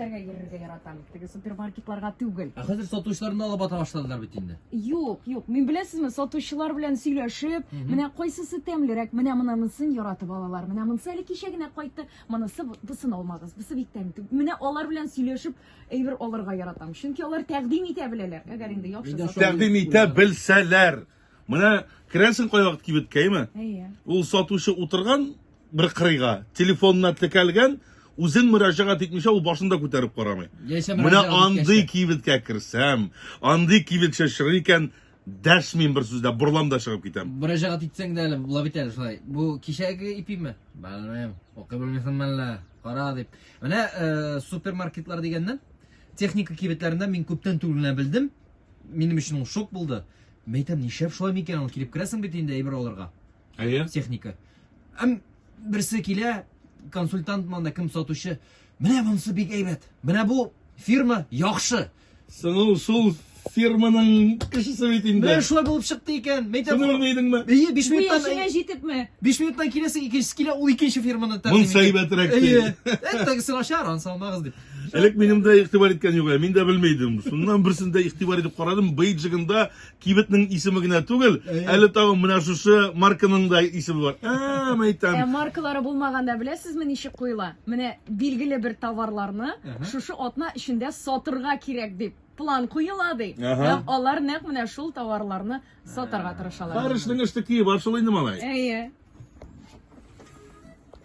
Тәргә йөрергә яратам. Теге супермаркетларга түгел. Ә хәзер сатучыларны алып ата башладылар бит инде. Юк, юк. Мин беләсезме, сатучылар белән сөйләшеп, Мгм. менә кайсысы тәмлерәк, менә монысын яратып алалар. Менә монысы әле кичә генә кайтты, монысы бу- бусын алмагыз, бусы бик тәмле. түгел». Менә алар белән сөйләшеп әйбер алырга яратам. Чөнки алар тәкъдим итә беләләр. Әгәр инде яхшы Мин дә сату- шул- Тәкъдим итә белсәләр. Менә керәсең кайвакыт кибеткә, әйме? Әйе. Ул сатучы утырган бер кырыйга, телефонына текәлгән, үзен мөрәҗәгать итмичә ул башын да күтәреп карамый. Яисә Менә мөрәҗәгать андый иткәчтә. кибеткә керсәм, андый кибетче чыгыр икән, дәшмим бер сүз дә, борылам да чыгып китәм. Мөрәҗәгать итсәң дә әле була бит әле шулай. Бу кичәге ипиме? Белмим. Укый белмисеңме әллә? Кара дип. Менә э, супермаркетлар дигәннән, техника кибетләрендә мин күптән түгел генә белдем. Минем өчен ул шок булды. Мәйтәм, нишләп шулай микән ул килеп керәсең бит инде әйбер алырга. Әйе. Техника. Әм берсе килә, консультант монда кем сатучы. Менә монсы бик әйбәт. Менә бу фирма яхшы. Соң шул фирманың кешесе бит инде. Менә шулай булып чыкты икән. Мәйтәм. Шуны белмәйдеңме? Әйе, 5 минуттан. Бу яшенә җитепме? 5 минуттан киләсе икенчесе килә, ул икенче фирманы тәкъдим итә. Монсы әйбәтрәк. Әйе. Әттәгесен ачар, ансалмагыз дип. Элек минем дә игътибар иткән юк, мин дә белми идем. Шуннан берсендә игътибар итеп карадым, бейджигында кибетнең исеме генә түгел, әле тагын менә шушы марканың да исеме бар. Ә, мәйтәм. Ә маркалары булмаганда беләсезме ничек куела? Менә билгеле бер товарларны шушы атна эчендә сатырга кирәк дип план куела ди. Һәм алар нәкъ менә шул товарларны сатарга тырышалар. Бар эшнең эштеки бар шул инде малай. Әйе.